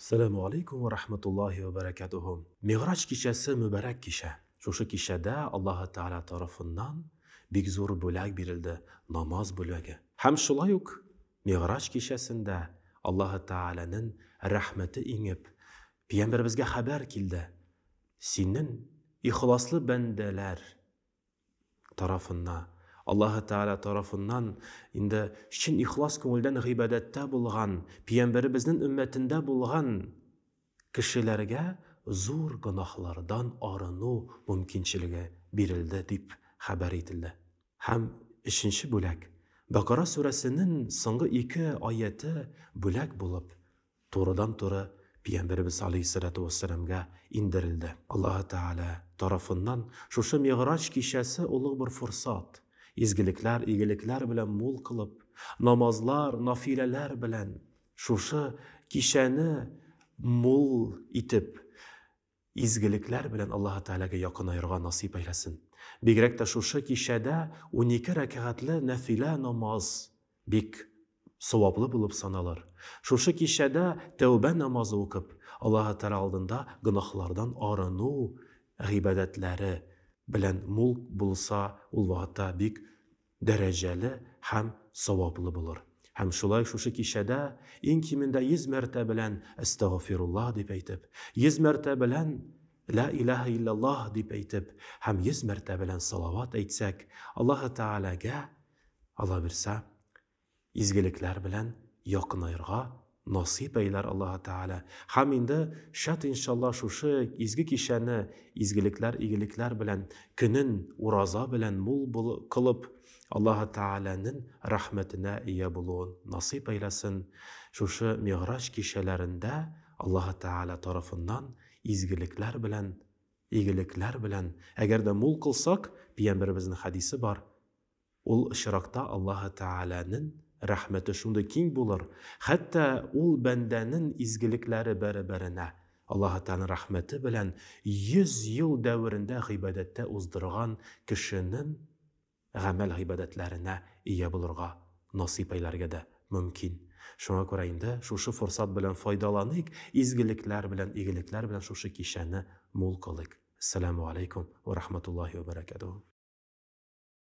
Сәләмү алейкум вә рахматуллахи вә бәрәкәтүһү. Мигъраҗ кичәсе мөбарәк кичә. Шушы кичәдә Аллаһы Тәгалә тарафыннан бик зур бүләк бирелде, намаз бүләге. Һәм шулай ук Мигъраҗ кичәсендә Аллаһы Тәгаләнен рәхмәте иңеп, Пиямбәребезгә хәбәр килде, Синен ихласлы бәндәләр тарафына, Аллаһы Тәгалә тарафыннан инде чын ихлас күңелдән гыйбадәттә булган, пиямбәребезнең өммәтендә булган кешеләргә зур гөнаһлардан арыну мөмкинчелеге бирелде, дип хәбәр ителде. Һәм өченче бүләк, Бәкара сүрәсенең соңгы ике аяте бүләк булып турыдан-туры Пигамбәребез галәйһиссәләтү вәссәламгә иңдерелде. Аллаһы Тәгалә тарафыннан шушы Мигъраҗ кичәсе олуг бер форсат, изгелекләр, игелекләр белән мул кылып, намазлар, нафиләләр белән шушы кичәне мул итеп, изгелекләр белән Аллаһы Тәгаләгә якынаерга насыйп әйләсен. Бигрәк тә шушы кичәдә унике рәкәгатле нәфилә намаз бик саваплы булып саналыр. Шушы кичәдә тәүбә намазы укып, Аллаһы Тәгалә алдында гөнаһлардан арыну гыйбадәтләре белән мул булса, ул вакытта бик дәрәҗәле һәм саваплы булыр. Һәм шулай шушы кичәдә иң кимендә йөз мәртә белән Әстәгъфирулла дип әйтеп, йөз мәртә белән Лә иләһә илляллаһ дип әйтеп һәм йөз мәртә белән салават әйтсәк, Аллаһы Тәгаләгә, аллабирса, Изгелекләр белән якынаерга насыйп әйләр Аллаһы Тәгалә. Һәм инде шәт иншалла шушы изге кичәне изгелекләр игелекләр белән көнен ураза белән мул бул кылып Аллаһы Тәгаләнен рәхмәтенә ия булуын насыйп әйләсен шушы мигъраҗ кичәләрендә Аллаһы Тәгалә тарафыннан изгелекләр белән игелекләр белән әгәр дә мул кылсак пиямберебезнең хәдисе бар Ул очракта Аллаһы Тәгаләнен рәхмәте шундый киң булыр, хәтта ул бәндәнен изгелекләре бәрабәренә Аллаһы Тәгаләнен рәхмәте белән йөз ел дәверендә гыйбадәттә уздырган кешенен гамәл-гыйбадәтләренә ия булырга насыйп әйләргә дә мөмкин. Шуңа күрә инде шушы форсат белән файдаланыйк, изгелекләр белән, игелекләр белән шушы кичәне мул кылыйк. Әссәләмү аләйкүм вә рахматуллаһи вә бәрәкәтүһү.